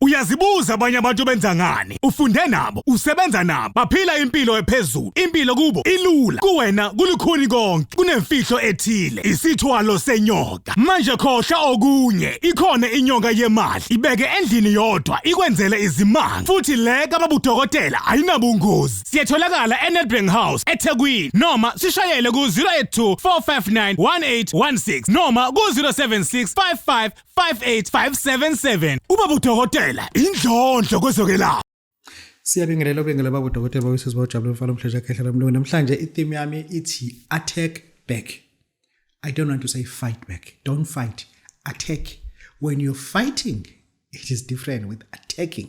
Uyazibuza abanye abantu benza ngani? Ufunde nabo, usebenza nabo, baphila impilo ephezulu. Impilo kubo ilula, kuwena kulukhuni konke. Kunemfihlo ethile, isithwalo senyoka. Manje khohla okunye, ikhona inyoka yemali. Ibeke endlini yodwa, ikwenzele izimanga. Futhi le kababudokotela ayinabungozi. Siyetholakala eNedbank House eThekwini noma sishayele ku-082 459 1816 noma ku-076 55 58577 ubaba udokotela indlondlo kwezokelapha Siyabingelela obengela baba udokotela bawises bawujabule mfana omhlesha khehla lomlungu namhlanje i-theme yami ithi attack back I don't want to say fight back don't fight attack when you're fighting it is different with attacking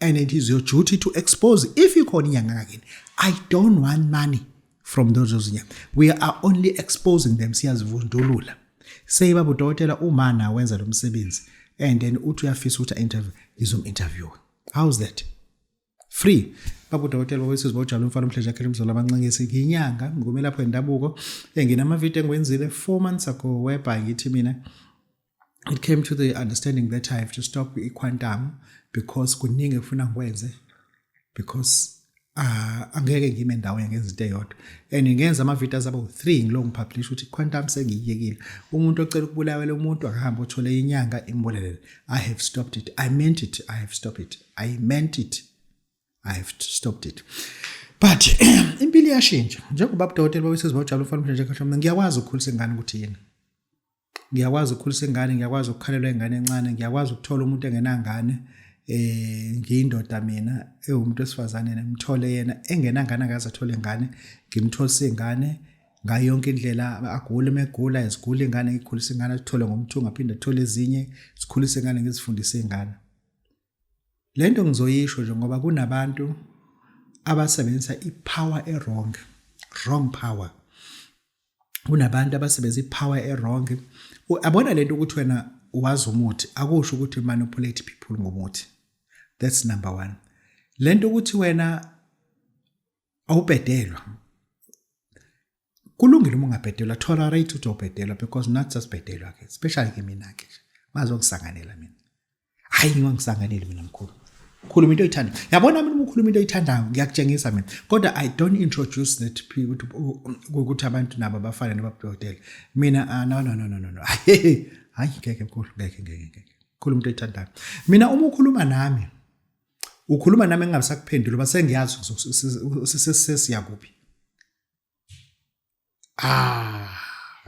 and it is your duty to expose if ikhona inyanga ngakini i don't want money from those ozinya we are only exposing them siyazivundulula say baba udokotela uma na wenza lo msebenzi and then uthi uyafisa ukuthi interview ngizom interview how's that free baba udokotela wawesizwe bawujalo umfana umhleja yakhe emzolo abancengisi ngiyinyanga ngikumelapho yendabuko enginama video engiwenzile 4 months ago whereby ngithi mina it came to the understanding that I have to stop iQuantum because kuningi efuna ngikwenze because uh, angeke ngime ndawo ngenzinto eyodwa and ngenza ama-videos aba u-three ngilo ngipublisha ukuthi quantum sengiyiyekile umuntu ocela ukubulawela umuntu akahambe othole inyanga imbulelele i have stopped it i meant it i have stopped it i meant it i have stopped it but impilo iyashintsha njengoba abudokotela babesezibawujabula ufanele nje kahle mina ngiyakwazi ukukhulisa ingane ukuthi yini ngiyakwazi ukukhulisa ingane ngiyakwazi ukukhalelwa ingane encane ngiyakwazi ukuthola umuntu engenangane eh ngiyindoda mina ewumuntu wesifazane nemthole yena engenangane akaze athole ingane ngimtholisa ingane ngayo yonke indlela agule megula izigule ingane ngikhulisa ingane athole ngomthungo aphinde athole ezinye sikhulise ingane ngizifundise ingane Le nto ngizoyisho nje ngoba kunabantu abasebenzisa i-power e-wrong, wrong power. Kunabantu abasebenzisa i-power e-wrong. Abona le nto ukuthi wena wazi umuthi akusho ukuthi manipulate people ngomuthi. That's number one. Le nto ukuthi wena awubhedelwa kulungile uma ungabhedelwa tolerate ukuthi obhedelwa because not just bhedelwa ke especially ke mina ke bazongisanganela mina hayi ngiwangisanganeli mina mkhulu khuluma into oyithanda yabona mina ukhuluma into oyithandayo ngiyakutshengisa mina kodwa i don't introduce that ukuthi abantu nabo bafane nababudokotela mina ah, no no no no no hayi hayi ngeke mkhulu ngeke ngeke ngeke khuluma into oyithandayo mina uma ukhuluma nami ukhuluma nami engabe sakuphendula uba sengiyazi sesiyakuphi ah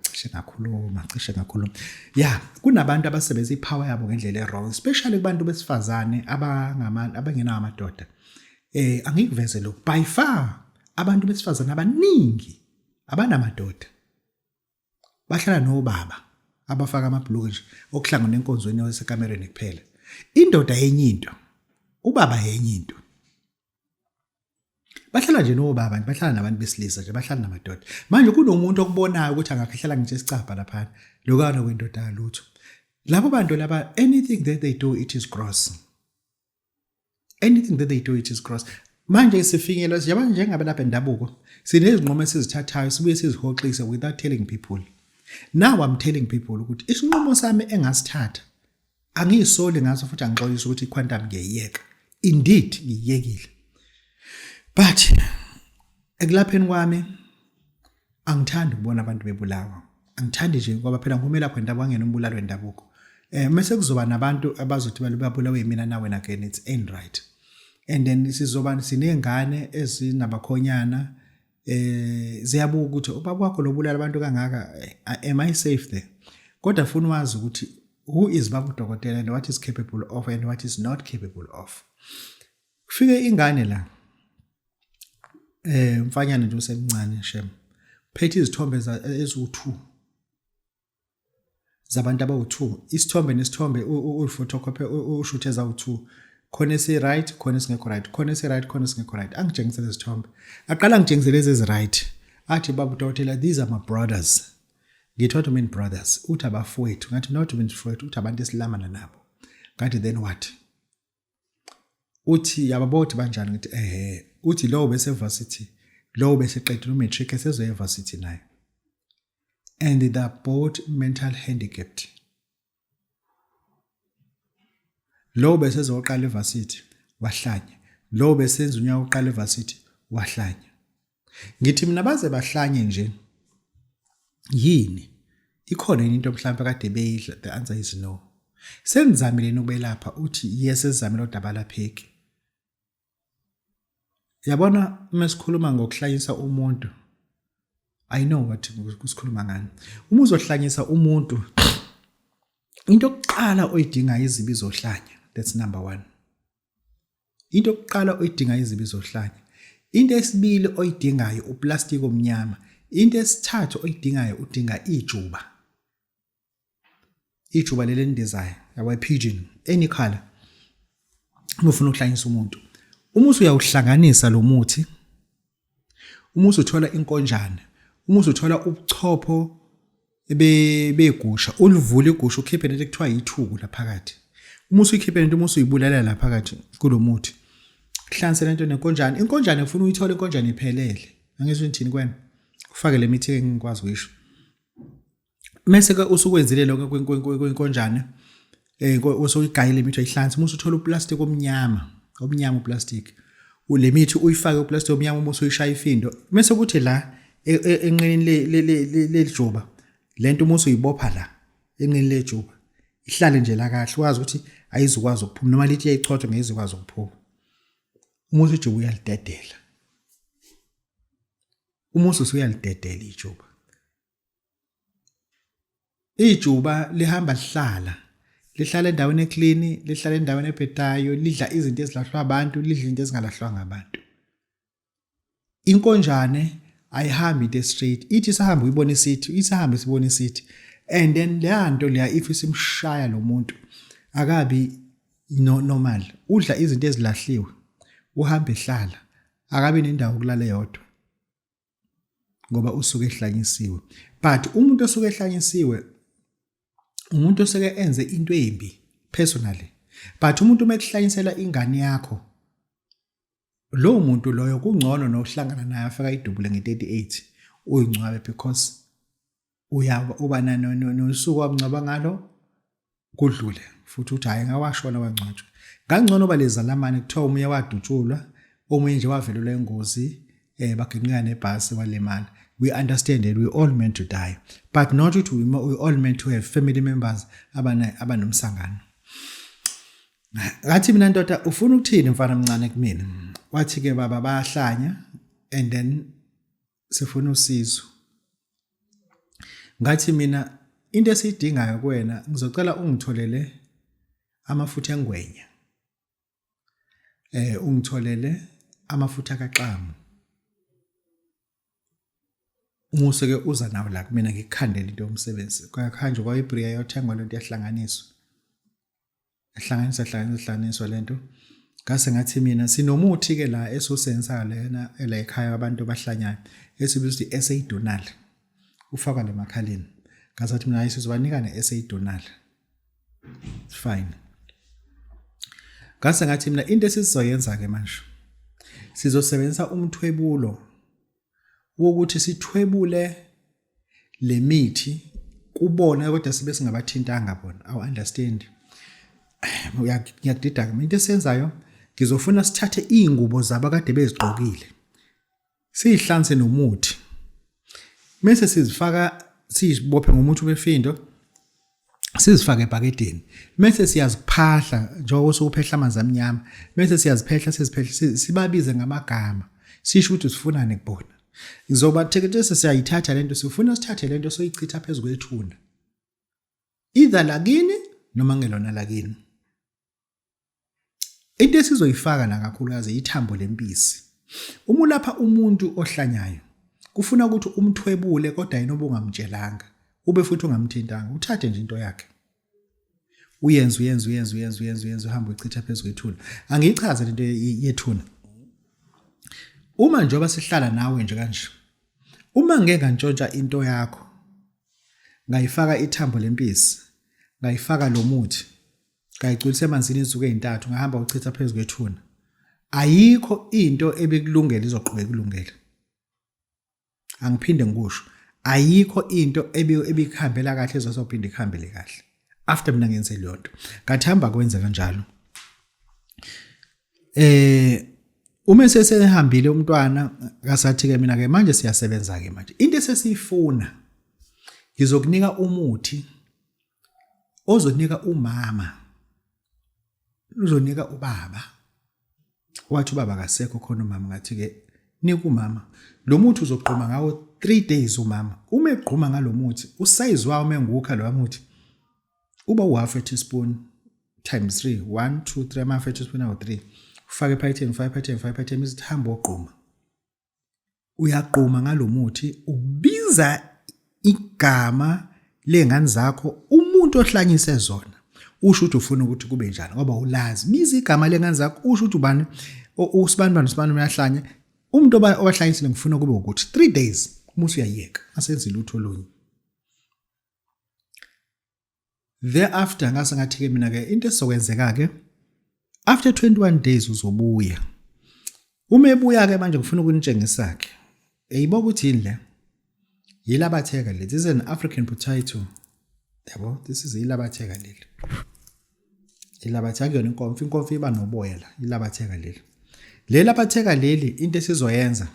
cishe ngakhuluma cishe ngakhuluma ya kunabantu abasebenzisa ipower yabo ngendlela ewrong especially kubantu besifazane abangama abangenawo amadoda eh angikuveze lokhu by far abantu besifazane abaningi abanamadoda bahlala nobaba abafaka amabhuluke nje okuhlangana enkonzweni yasekamereni kuphela indoda yenye into ubaba yenye into bahlala nje nobaba bahlala nabantu besilisa nje bahlala namadoda manje kunomuntu okubonayo ukuthi angakhehlala ngisho isicabha lapha lokana kwendoda lutho labo bantu laba anything that they do it is gross anything that they do it is gross manje isifinyelo siyabona njengabelaphi endabuko sinezinqumo esizithathayo sibuye sizihoxise without telling people now i'm telling people ukuthi isinqumo sami engasithatha angiyisoli ngaso futhi angixolisi ukuthi iquantum ngiyeyeka indeed ngiyekile but ekulapheni kwami angithandi ukubona abantu bebulawa angithandi nje ngoba phela ngumela khona indaba wangena umbulalo wendabuko eh mase kuzoba nabantu abazothi balubabulawe yimina nawe na again it's end right and then sizoba sinengane ezinabakhonyana eh ziyabuka ukuthi ubaba wakho lobulala abantu kangaka eh, am i safe there kodwa funa wazi ukuthi who is babu dokotela and what is capable of and what is not capable of kufike ingane la eh mfanyana nje usemncane shem phethe izithombe eziwu2 zabantu abawu2 isithombe nesithombe uphotocopy ushuthe ezawu2 khona esi right khona esingekho right khona esi right khona esingekho right angitshengisele izithombe aqala ngitshengisele lezi ezi right athi babu dokotela these are my brothers ngithi what mean brothers uthi abafowethu ngathi not mean fowethu uthi abantu esilamana nabo ngathi then what uthi yababothi banjani ngithi ehe uthi lowo bese varsity lowo bese qedile umatric esezoya evarsity naye and they are both mental handicapped lowo bese ezoqala evarsity wahlanya lowo besenza unyaka oqala evarsity wahlanya Ngithi mina baze bahlanye nje. Yini? Ikhona yini into mhlawumbe kade beyidla? The answer is no. Senizamile nokubelapha uthi yes ezamile odaba lapheki. Yabona uma sikhuluma ngokuhlanyisa umuntu I know what kusikhuluma ngani. Uma uzohlanyisa umuntu into yokuqala oyidingayo izibi zohlanya. That's number 1. Into yokuqala oyidinga izibi zohlanya. Into esibili oyidingayo uplastiki omnyama. Into esithathu oyidingayo udinga ijuba. Ijuba leli endizayo, yabo pigeon, any color. Uma ufuna ukuhlanyisa umuntu. Uma usuyawuhlanganisa lo muthi Uma usuthola inkonjane, uma usuthola ubuchopho begusha, ulivule igusha ukhiphe lento ekuthiwa yithuku laphakathi. Uma usuyikhiphe lento uma usuyibulalela laphakathi kulo muthi, hlanse lento nenkonjane. Inkonjane ufuna uyithole inkonjane iphelele. Angizwe ngithini kwena? Ufake le mithi engikwazi kuyisho. mese ke usukwenzile lokho kwenkonjane eh usuyigayile imithi oyihlanza musu uthola uplastic omnyama omnyama uplastic le mithi uyifake uplastic omnyama uma usuyishaya ifindo mese kuthi la e, e, enqinini lelijuba lento uma usuyibopha la enqinini lejuba ihlale nje la kahle wazi ukuthi ayizukwazi ukuphuma noma lithi yayichotha ngeyizukwazi ukuphuma uma usujuba uyalidedela uma ususuyalidedela ijuba Ijuba lihamba lihlala lihlala endaweni eclean lihlala endaweni ebhedayo lidla izinto ezilahlwa abantu lidla izinto ezingalahlwanga abantu inkonjane ayihambi into straight ithi sahamba uyibona isithi isahamba sibona isithi and then leya nto leya if isimshaya lo muntu akabi no normal udla izinto ezilahliwe uhamba ehlala akabe nendawo kulala yodwa ngoba usuke ehlanyisiwe but umuntu osuke ehlanyisiwe umuntu oseke enze into embi personally but umuntu uma ekuhlanyisela ingane yakho lowo muntu loyo kungcono nohlangana naye afika idubule nge-38 uyingcwabe because uyaba uba nosuku wamngcwaba ngalo kudlule futhi uthi hhayi ngawashona wangcwatshwa ngangcono uba lezalamane kuthiwa omunye wadutshulwa omunye nje wavelelwa ingozi eh baginqika nebhasi walimala we understand that we all meant to die but not ukuthi we, we all meant to have family members abana abanomsangano ngathi mina ndoda ufuna ukuthini mfana mncane kumina wathi ke baba bayahlanya and then sifuna usizo ngathi mina into esiyidingayo kuwena ngizocela ungitholele amafutha engwenya eh ungitholele amafutha kaxamu umuso ke uza nawo la kumina ngikukhandela into yomsebenzi kwakuhanjwa kwayibriya yothengwa lento yahlanganiswa ehlanganisa hlanganisa hlanganiswa lento ngase ngathi mina sinomuthi ke la esosensa lena la ekhaya abantu abahlanyayo esibiza ukuthi esidonal ufaka le makhaleni ngasathi mina ayisizobanika ne esidonal fine ngase ngathi mina into esizoyenza ke manje sizosebenzisa umthwebulo wokuthi sithwebule lemithi kubona kodwa sibe singabathintanga bona awu understand ngiyakudida ke into esenzayo ngizofuna sithathe izingubo zabo kade bezigqokile sihlanse nomuthi mase sizifaka sizibophe ngomuthi wefindo sizifake ebhakedeni mese siyaziphahla njengoba usukuphehla amanzi amnyama mese siyaziphehla siziphehla sibabize ngamagama sisho ukuthi sifunane kubona ngizoba theketese siyayithatha lento sifuna sithathe lento soyichitha phezulu kwethuna either lakini noma ngelona lakini into esizoyifaka la kakhulukazi yithambo lempisi uma ulapha umuntu ohlanyayo kufuna ukuthi umthwebule kodwa yena obungamtshelanga ube futhi ungamthintanga uthathe nje into yakhe uyenza uyenza uyenza uyenza uyenza uyenza uhamba uchitha phezu kwethuna angiyichaze lento yethuna uma njengoba sihlala nawe nje kanje uma ngeke ngantshontsha into yakho ngayifaka ithambo lempisi ngayifaka lo muthi ngayigculisa emanzini izinsuku ezintathu ngahamba uchitha phezu kwethuna ayikho into ebekulungela izoqhubeka kulungela angiphinde ngikusho ayikho into ebikuhambela kahle ezosophinde ikuhambele kahle after mina ngenze leyo nto ngathi hamba kwenze kanjalo eh uma sesehambile umntwana kasathi ke mina ke manje siyasebenza ke manje into esesiyifuna ngizokunika umuthi ozonika umama uzonika ubaba wathi ubaba kasekho khona umama ngathi ke nika umama lo muthi uzogquma ngawo 3 days umama uma egquma ngalomuthi usize wawo mengukha lo muthi uba u half a teaspoon times 3 1 2 3 ama half a teaspoon awu 3 ufake ephaketheni ufake ephaketheni ufake ephaketheni izithambo ogquma uyagquma ngalomuthi ubiza igama lengane zakho umuntu ohlanyise zona usho ukuthi ufuna ukuthi kube njani ngoba ulazi biza igama lengane zakho usho ukuthi ubani usibani bani usibani uyahlanya umuntu obahlanyisile ngifuna kube ukuthi 3 days umuthi uyayeka asenze lutho olunye thereafter ngase ngathi ke mina ke into esokwenzeka ke after 21 days uzobuya uma ebuya ke manje ngifuna ukunitshengisa ke eyibo ukuthi yini le yilabatheka leli this is an african potato yabo this is yilabatheka leli ilabathi akuyona inkomfa inkomfa iba noboya la ilabatheka leli leli labatheka leli into esizoyenza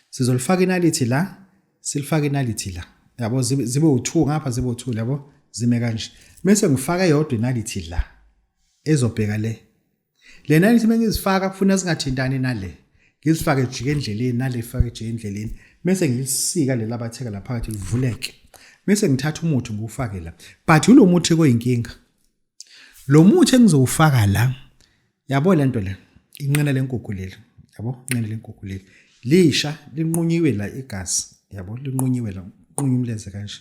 sizolifaka inalithi la silifaka inalithi la yabo zibe u2 ngapha zibe u2 yabo zime kanje bese ngifaka yodwa inalithi la ezobheka le le nalithi mengizifaka kufuna singathintani nale ngizifake jike endleleni nale ifake jike endleleni bese ngilisika lela batheka la phakathi livuleke bese ngithatha umuthi ngiwufake la but ulo muthi koyinkinga lo muthi engizowufaka la yabo lento le inqina lenkukhu leli yabo inqina lenkukhu leli lisha linqunyiwe la igazi yabo linqunyiwe la unqunywa umlenze kanje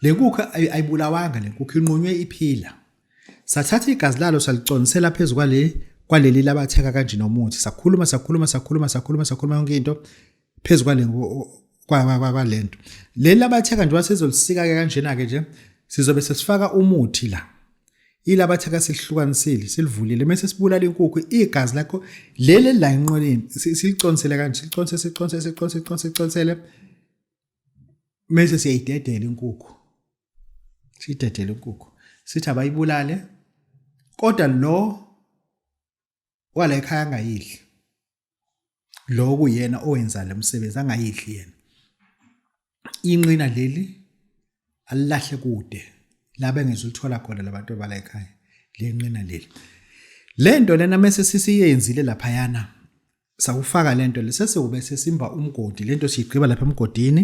lenkukhu ayibulawanga lenkukhu inqunywe iphila sathatha igazi lalo saliconsela phezulu kwale kwaleli labatheka kanje nomuthi sakhuluma sakhuluma sakhuluma sakhuluma sakhuluma yonke into phezu kwale kwalento leli labatheka njengoba sizolisika-ke kanjena-ke nje sizobe sesifaka umuthi la ilabatheka silihlukanisile silivulile mese sibulala inkukhu igazi lakho leli la enqoleni siliconsele kanje siliconse siconse siconse siconse siconsele mese siyayidedela inkukhu siyidedela inkukhu sithi abayibulale kodwa lo wala ekhaya angayidli loku yena owenza le msebenzi angayidli yena inqina leli alilahle kude labe ngizulithola khona labantu abala ekhaya lenqina leli lento lena mase sisiyenzile lapha yana sakufaka lento lesesewube sesimba umgodi lento siyigqiba lapha emgodini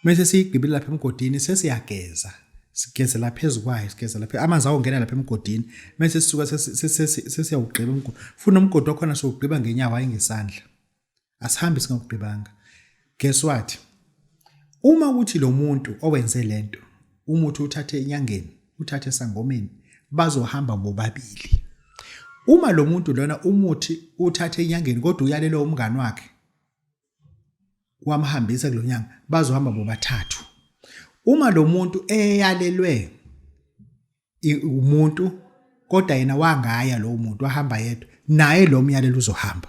Mese siyigibile lapha emgodini sesiyageza. Sigezela phezulu kwayo, sigezela phezulu. Amanzi awongena lapha emgodini. Mese sisuka sesiyawugqiba umgodi. Funa umgodi wakhona siwugqiba ngenyawo hayi ngesandla. Asihambi singawugqibanga. Guess what? Uma ukuthi lo muntu owenze lento umuthi uthathe enyangeni, uthathe esangomeni, bazohamba bobabili. Uma lo muntu lona umuthi uthathe enyangeni kodwa uyalelwe umngani wakhe, wamhambisa kulo nyanga bazohamba bobathathu uma lo muntu eyalelwe umuntu kodwa yena wangaya lo muntu wahamba yedwa naye lo myalelo uzohamba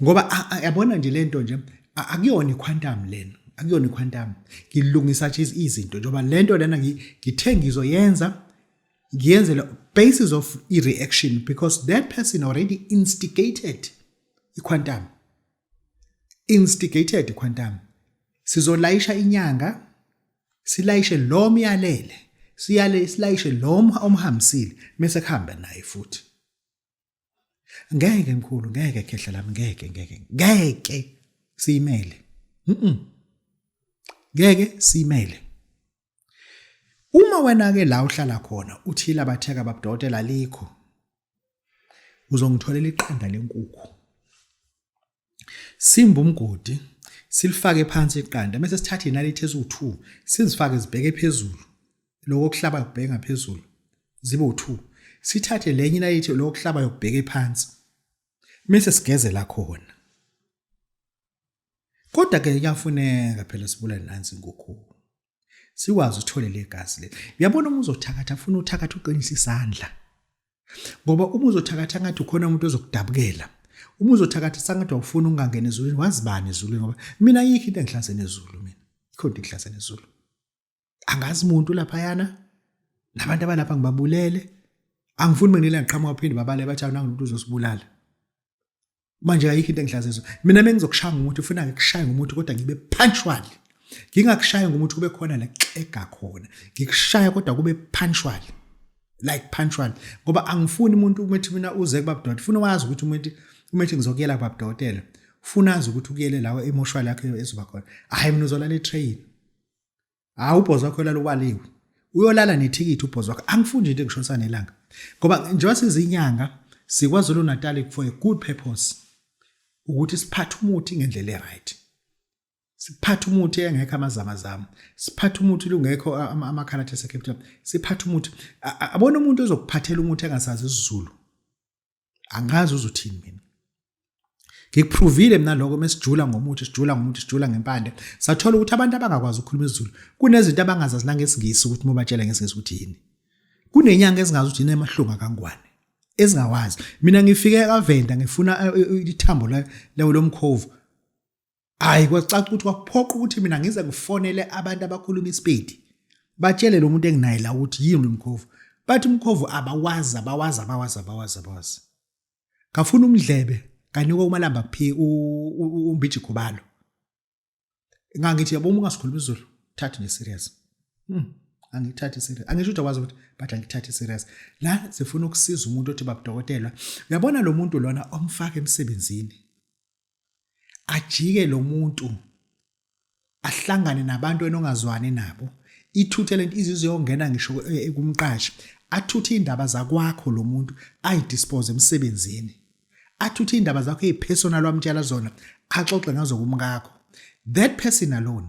ngoba yabona nje lento nje akuyona iquantum lena akuyona iquantum ngilungisa nje izinto njengoba lento lena ngithe ngizoyenza ngiyenzela basis of i-reaction because that person already instigated iQuantum instigated iQuantum sizolayisha inyanga silayishe lo myalele siyale silayishe lo omhambisile mase kuhamba naye futhi ngeke mkhulu ngeke khehla lami ngeke ngeke ngeke siyimele mhm ngeke siyimele Uma wena-ke la uhlala khona uthile abatheka babudokotela alikho, uzongitholela iqanda lenkukhu. Simba umgodi, silifake phansi iqanda, bese sithatha inalithi eziwu-2 sizifake zibheke phezulu, lokho kuhlaba kubheke ngaphezulu, zibe u-2. Sithathe lenye inalithi lokho kuhlaba yokubheke phansi, bese sigezela khona. Kodwa ke kuyafuneka phela sibulale nansi inkukhu. Sikwazi uthole legazi le. Uyabona uma uzothakatha ufuna uthakatha uqinisa isandla. Ngoba uma uzothakatha ngathi ukhona umuntu ozokudabukela. Uma uzothakatha sangathi awufuni ungangena ezulwini wazibani ezulwini ngoba mina ayikho into engihlaze nezulu mina. Ikhona into engihlaze nezulu. angazi umuntu laphayana nabantu abalapha ngibabulele angifuni benginela ngiqhamuka baphinde babale bathi awunanga umuntu uzosibulala manje ayikho into engihlazizo mina bengizokushaya ngomuntu ufuna ngikushaya ngomuntu kodwa ngibe punctual ngingakushaya ngomuntu kube khona la xega khona ngikushaya kodwa kube punctual like punctual ngoba angifuni umuntu umethi mina uze kubabdoti funa wazi ukuthi umuntu umethi ngizokuyela kubabdotela funa azi ukuthi ukuyele lawo emoshwali yakhe ezoba khona hayi mina uzolala etrain hawu ubhozi wakho yolala ubaliwe uyolala nethikithi ubhozi wakho angifundi into engishonisa nelanga ngoba njengoba sizinyanga sikwazulu natali for a good purpose ukuthi siphathe umuthi ngendlela e-right siphathe umuthi engekho amazamazama siphathe umuthi lungekho amakhala athe secapital siphathe umuthi abona umuntu ozokuphathela umuthi engasazi isizulu angazi uzothini mina ngikuprovile mina lokho mesijula ngomuthi sijula ngomuthi sijula ngempande sathola ukuthi abantu abangakwazi ukukhuluma isiZulu kunezinto abangazazi nangesingisi ukuthi mobatshela ngesingisi ukuthi yini kunenyanga ezingazi ukuthi yini emahlunga kangwane ezingawazi mina ngifike kavenda ngifuna eh, eh, eh, ithambo lawo lomkhovu Hayi kwacaca ukuthi kwakuphoqa ukuthi mina ngize ngifonele abantu abakhuluma isipedi. Batshele lo muntu enginaye la ukuthi yini umkhovu. Bathi umkhovu abawazi abawazi abawazi abawazi abawazi. Ngafuna umdlebe kanikwa umalamba phi umbiji khubalo. Ngangithi yabo uma ungasikhuluma isiZulu thatha ne serious. Hmm. angithathi serious angisho ukuthi akwazi ukuthi but angithathi serious la sifuna ukusiza umuntu othi babudokotela uyabona lo muntu lona omfaka emsebenzini ajike lo muntu ahlangane nabantu enongazwani nabo ithuthe lento izizwe yongena ngisho eh, kumqashi athuthe indaba zakwakho lo muntu ayidispose emsebenzini athuthe indaba zakho ezipersonal wamtshela zona axoxe ngazo kumkakho that person alone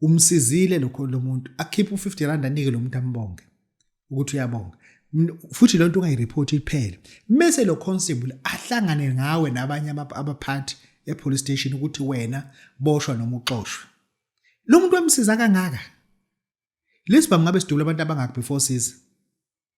umsizile lokho lo muntu akhiphe u-50 rand anike lo muntu ambonge ukuthi uyabonga futhi lento ungayireport iphele mese lo constable ahlangane ngawe nabanye abaphathi epolice station ukuthi wena boshwa noma uxoshwe lo muntu wamsiza kangaka lesibhamu ngabe sidubula abantu abangaki before siza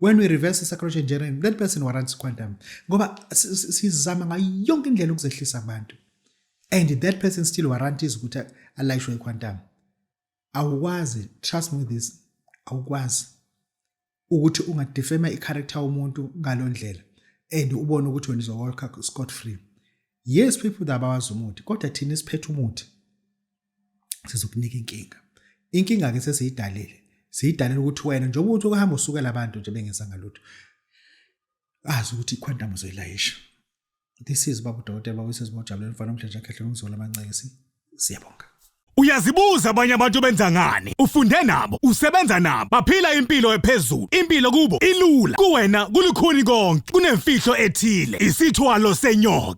when we reverse i-psychology engineering that person warrants quantum ngoba sizama ngayo yonke indlela ukuzehlisa abantu and that person still warranties ukuthi alayishwe i-quantum awukwazi trust me with this awukwazi ukuthi ungadefema i-character womuntu ngalo ndlela and ubone ukuthi wena izowalka scot free yes people that abawazi umuthi kodwa thina siphethe umuthi sizokunika inkinga inkinga ke sesiyidalile siyidalile ukuthi wena njengoba uthi ukuhamba usukela abantu nje bengenzanga lutho azi ukuthi iquantum uzoyilayisha this is babu dokotela babu sisi bojabulela mfana omhlanje akhehle ngizolo amancekisi siyabonga Uyazibuza abanye abantu benza ngani? Ufunde nabo, usebenza nabo, baphila impilo ephezulu. Impilo kubo ilula. Kuwena kulukhuni konke, kunemfihlo ethile, isithwalo senyoka.